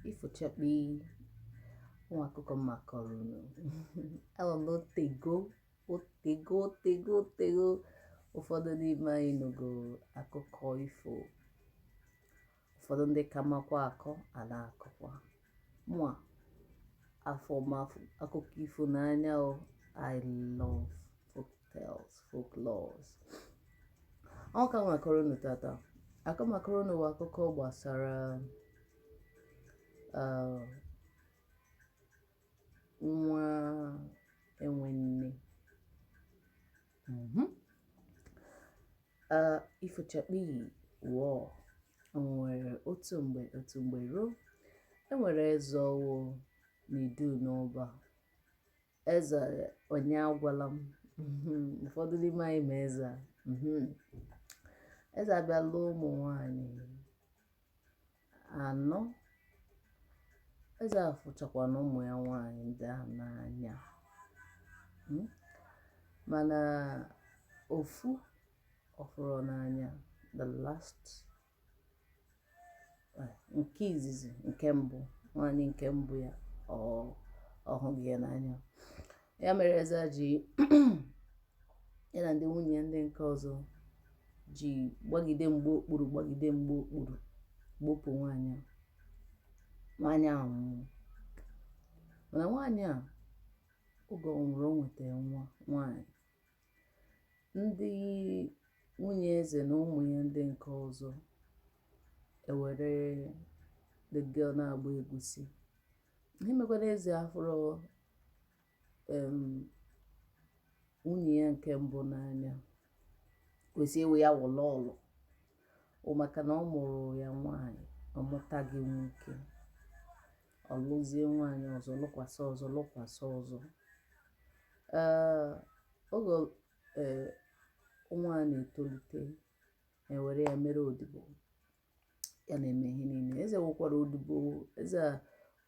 ifo chakpii wọọ akụkọ m ga-akọrọ unu ama m otego otego otego otego ụfọdụ n'ime anyị nụgo akụkọ ifo ụfọdụ ndị ka makwa akọ a na-akọkwa mụa afụ m akụkọ ifo n'anya o i love tales folklores ọ ka m ga-akọrọ unu tata nke m ga-akọrọ unu bụ akụkọ gbasara uh, nwa enwe nne mhm. uh, ifo chakpii wọọ nwere otu mgbe otu mgbe ruo e nwere eze ọ wụ n'Iduu na Ọba eze Onyeagwalam mhm. ụfọdụ n'ime anyị ma eze a mhm. eze a bịa lụọ ụmụ nwanyị anọ eze a fụchakwanụ ụmụ ya nwanyị ndị ahụ n'anya hmm? mana ofu ọ fụrụ n'anya the last nke izizi nke mbụ nwaanyị nke mbụ ya ọ hụghị ya n'anya ya mere eze ji ya na ndị nwunye ya ndị nke ọzọ ji gbagide mgba okpuru gbagide mgba okpuru gbupụ nwaanyị a nwaanyị ahụ nwụrụ mana nwaanyị a oge ọ nwụrụ o nwetara nwa nwaanyị Ndị nwunye eze na ụmụ ya ndị nke ọzọ ewere the girl na-agba egusi ihe mekwara eze afụrọ em, nwunye ya nke mbụ n'anya kwesị ewe ya wụlọ ọlụ o maka na ọ mụụrụ ya nwaanyị ọ mụtaghị nwoke ọ lụzie nwaanyị ọzọ lụkwasị ọzọ lụkwasị ọzọ oge nwa a na-etolite e were ya mere odibo ya na-eme ihe niile eze nwekwara odibo eze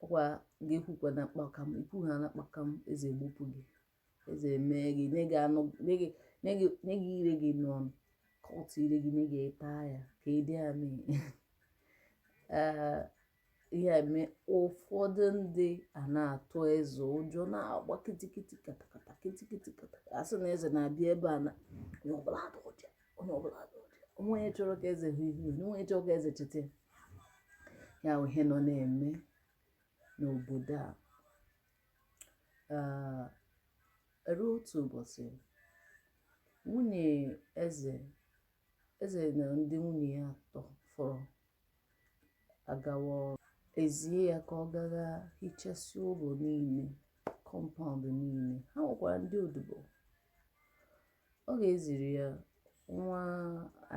ọkwa ga-ekwukwa na kpakam i kwuo ha na kpakam eze egbupụ gị eze mee gị nye gị anụ nye gị nye gị nye gị ire gị n'ọnụ ka ọ tụ ire gị nye gị ị taa ya ka ịdị amị ee ihe a mee ụfọdụ ndị a na-atụ eze ụjọ na-agba kitikiti katakata kitikiti katakata a sị na eze na-abịa ebe a na onye ọbụla atụ ụjọ onye ọbụla atụ ụjọ o nweghị onye chọrọ ka eze hụ ihu ya o nweghị onye chọrọ ka eze cheta ya ya bụ ihe nọ na-eme n'obodo a ruo otu ụbọchị nwunye eze eze na ndị nwunye ya atọ fọrọ agawa ọrụ e zie ya ka ọ gaa hichasịa ụlọ niile compound niile ha nwekwara ndị odibo Oge e ziri ya nwa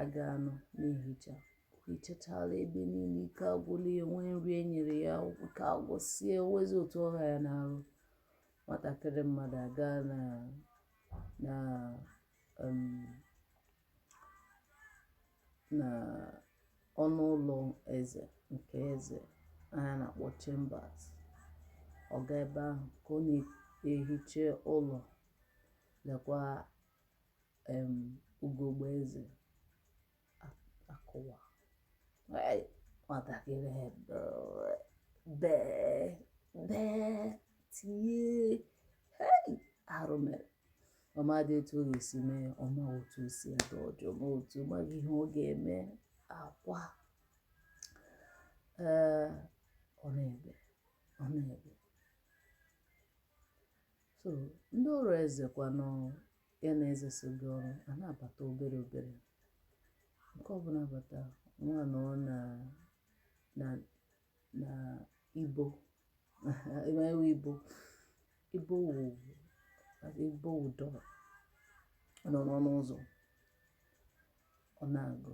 agaa nọ na-ehicha o hichachaala ebe niile ike agwụla ya nwee nri e nyere ya ike agwụsie nwezi otu ọ ha ya n'arụ nwatakịrị mmadụ agaa na na um, na ọnụ ụlọ eze nke eze a na-akpọ chambers ọ gaa ebe ahụ ka ọ na-ehicha ụlọ lekwa um ugegbe eze akụwaa nwatakịrị bee bee tie arụ emee ọ madị etu ọ ga-esi mee ọ ma otu o si adị ọjọọ ma otu maghị ihe ọ ga-eme akwa ee ọ na-ebe ọ na-ebe So ndị ọrụ eze kwanụ ya na eze so gaa ọrụ a na-abata obere obere nke ọbụla bata nwa nọ na na na ibo ebe ibo ibo wụ ibo wụ door nọ n'ọnụ ụzọ ọ na-agụ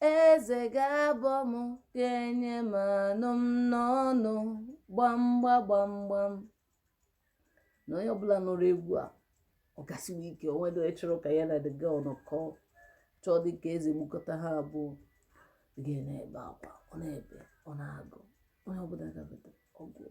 Eze ga-abọ m ga-enye m anụ m n'ọnụ gbamgba gbamgbam na onye ọbụla nụrụ egwu a ọ gasiwe ike o nwedị onye chọrọ ka ya na the girl nọkọ chọọ dị ka eze gbukọta ha abụọ ga na-ebe akwa ọ na-ebe ọ na-agụ onye ọbụla gabata ọ gụọ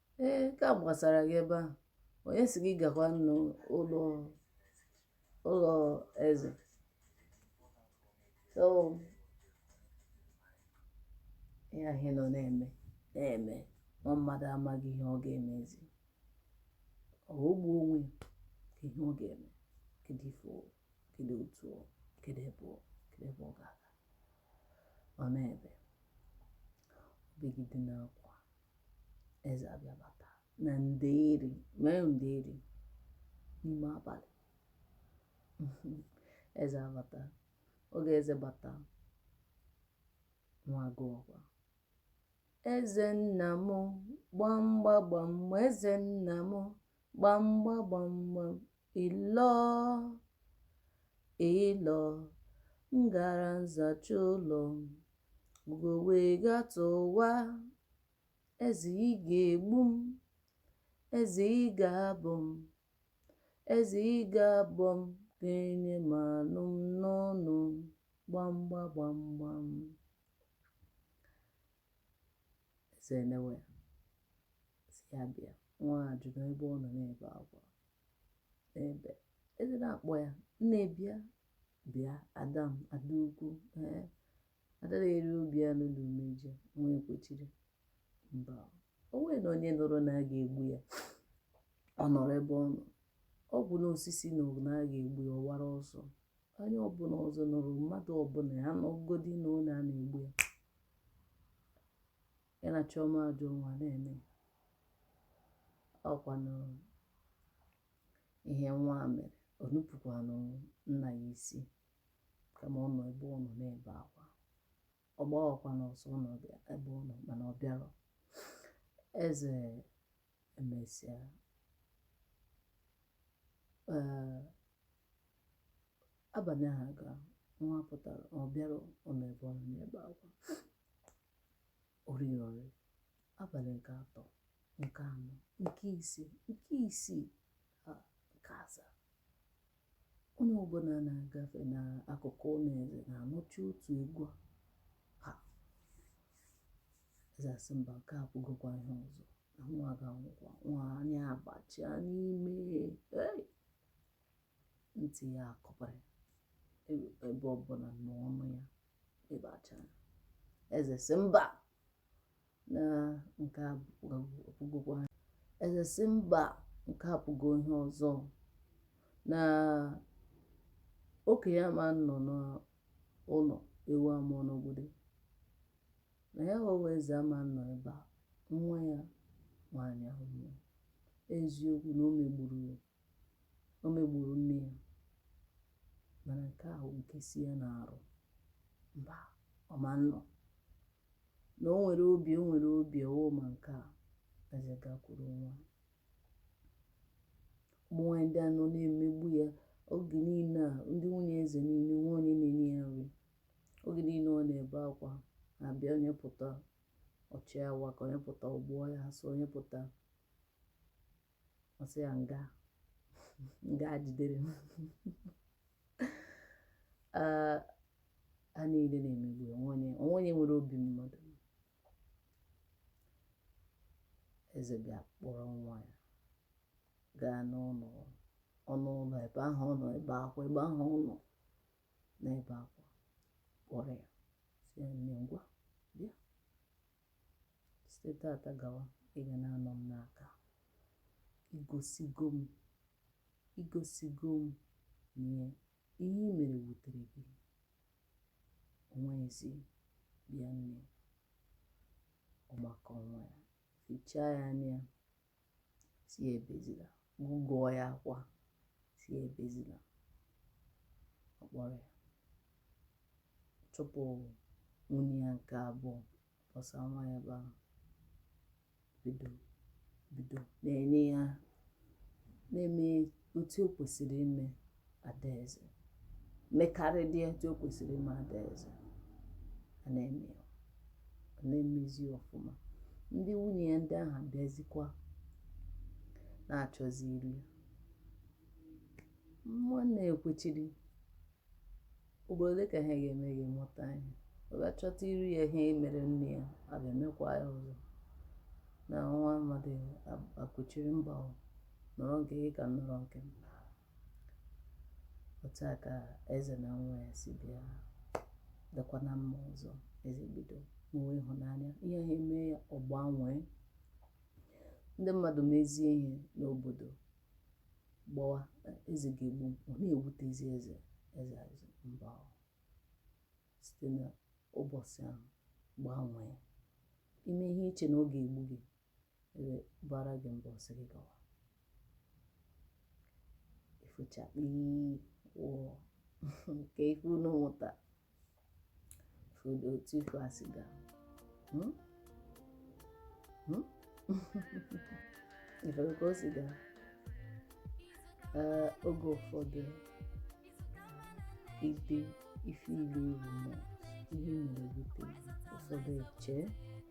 Ee, nke a gbasara gị ebe ahụ. Onye si gị gakwa n'ụlọ ụlọ eze? So, ihe ahụ nọ na-eme na-eme nwa mmadụ amaghị ihe ọ ga-emezi. Ọ o gbuo onwe ya ka ihe ọ ga-eme kedu ife ọ kedu otu ọ kedu ebe ọ kedu ebe ọ ga-aga ọ na-ebe o begide n'akwa eze abịa bata na nderi mee nderi n'ime abalị eze abata oge eze bata nwa agụọkwa eze nna m gbamgba gbam eze nna m gbamgba gbamgbam ịlọ ịlọ m gara nzacha ụlọ ugo wee gatụwa eze ị ga-egbu m eze ị ga-abọ m eze ị ga-abọ m ga-enye m anụ m n'ọnụ gbamgba gbamgbam Eze enewe ya, sị ya bịa, nwa a jụrụ ebe ọ nọ na-ebe akwa. Ebe eze na-akpọ ya, nne bịa, bịa, ada m, ada ukwu, ee, ada na-eri obi anụ na umeji, nwa ekwechiri. Mba, o nwerenụ onye nụrụ na a ga-egbu ya, ọ nọrọ ebe ọ nọ. Ọbụna osisi nụ na a ga-egbu ya, ọ wara ọsọ. onye ọbụla ọzọ nụrụ mmadụ ọbụla ya nụgodi na na a na-egbu ya ya na chiọma ajọ nwa na-eme ọkwa na ihe nwa a mere o nupụkwanụ nna ya isi kama ọ nọ ebe ọ nọ na-ebe akwa ọ gbawakwanụ ọsọ ọ nọ bịa- ebe ọ nọ mana ọ bịarọ eze emesịa ee abalị ahụ agaa nwa apụtarọ ọ bịarọ ọ nọ ebe ọ nọ na-ebe akwa o rirọ nri abalị nke atọ nke anọ nke ise nke isii Nke asaa. Onye ọbụla na-agafe n'akụkụ ụlọ eze na-anụcha otu egwu a eze asị mba nke a abụgokwa ihe ọzọ na nwa ga-anwụkwa nwa anya abachaa n'ime ntị ya akọpara e, ebe ọbụla n'ọnụ ya ebe achara eze sị mba na nke a abụgokwa eze sị mba nke a abụgo ihe ọzọ na okenye ama nọ n'ụlọ ewu amụọ n'ọgbụrị na ya nwa bụ eze ama nọ ebe a nwa ya nwaanyị anwụọ eziokwu na o megburu ya o megburu nne ya mana nke a nke si ya n'arụ mba ọ ma nọ na o nwere obi o nwere obi ọwụ ma nke a eze gakwuru nwa ụmụ nwaanyị ndị a nọ na-emegbu ya oge niile a ndị nwunye eze niile nwa onye na-enye ya nri oge niile ọ na-ebe akwa na-abịa onye pụta ọ chịawa ka onye pụta ọ gbụọ ya asụ onye pụta ọ sị ya nganga jidere m ah, ha niile na-emegbu onwe onye nwere obi mmadụ eze bịa kpọrọ nwa ya gaa n'ụlọ ọnụ ụlọ ebe ahụ ọ nọ ebe akwa ebe ahụ ọ nọ na-ebe akwa kpọrọ ya sị ya nne ngwa bịa site tata gawa ị ga na-anọ m n'aka i gosigo m i gosigo m na ihe i mere wutere gị o nweghịzi bịa nne ọ makụọ nwa ya fichaa ya anya sị ya ebezila gụgụọ ya akwa sị ya ebezila ọ kpọrọ ya chụpụ nwunye ya nke abụọ kpọsa nwa ya ebe ahụ bido bido na-enye ya na-eme otu o kwesịrị ime adaeze mekarịdị etu o kwesịrị ime adaeze a na-eme ya, ọ na-emezi ya ọfụma ndị nwunye ya ndị ahụ abịazikwa na-achọzi iru ya nwanne ya ekwechiri ugboro ole ka ha ga-eme gị mụta ihe ọ bịa chọta iru ya ihe mere nne ya a ga-emekwa ya ọzọ na nwa mmadụ akwụchiri mba o nọrọ nke gị ka m nọrọ nke m otu a ka eze na nwa ya si bịa dịkwa na mma ọzọ eze bido nwewe ịhụnanya ihe ha eme ya ọ gbanwee ndị mmadụ mezie ihe n'obodo gbawa eze ga-egbu m ọ na-ewutezi eze eze asị mba o. site n'ụbọchị ahụ gbanwee i mee ihe i chee na ọ ga-egbu gị eze bara gị mba ọ sị gị gawa ifo chakpii wọọ nke ife unu mụta fodo otu ifo a si gaa Hmm? Hmm? ị fụrụ ka o si gaa Ee, oge ụfọdụ ide ife ilu iwu ma ihe mere bute ụfọdụ eche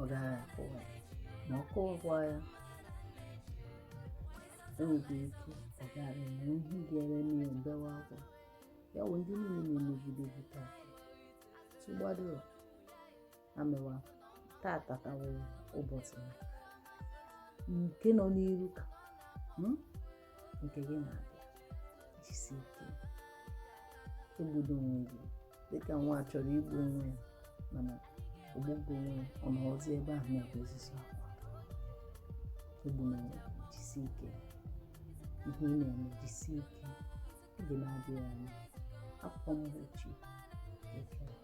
ọ gaghị akụ ya ma ọ kụwakwa ya e nwere ike ọ gara enwe ihe ga-ere n'ihe mbewa akwa ya wụ ndị niile na-emegide gị taa tụgbado amewa tata ka wụ gboo nke nọ n'iru ka nke gị na-abịa jisi ike egbudo onwe gị dịka nwa chọrọ igbu onwe ya mana ogbugbo onwe ya ọ nọrọzi ebe ahụ na-ekwe osisi akwa egbuna onwe gị jisi ike ihe ị na-eme jisi ike oge na-adịghị anya akwụkwọ mgbochi ekele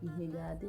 ihe ga-adị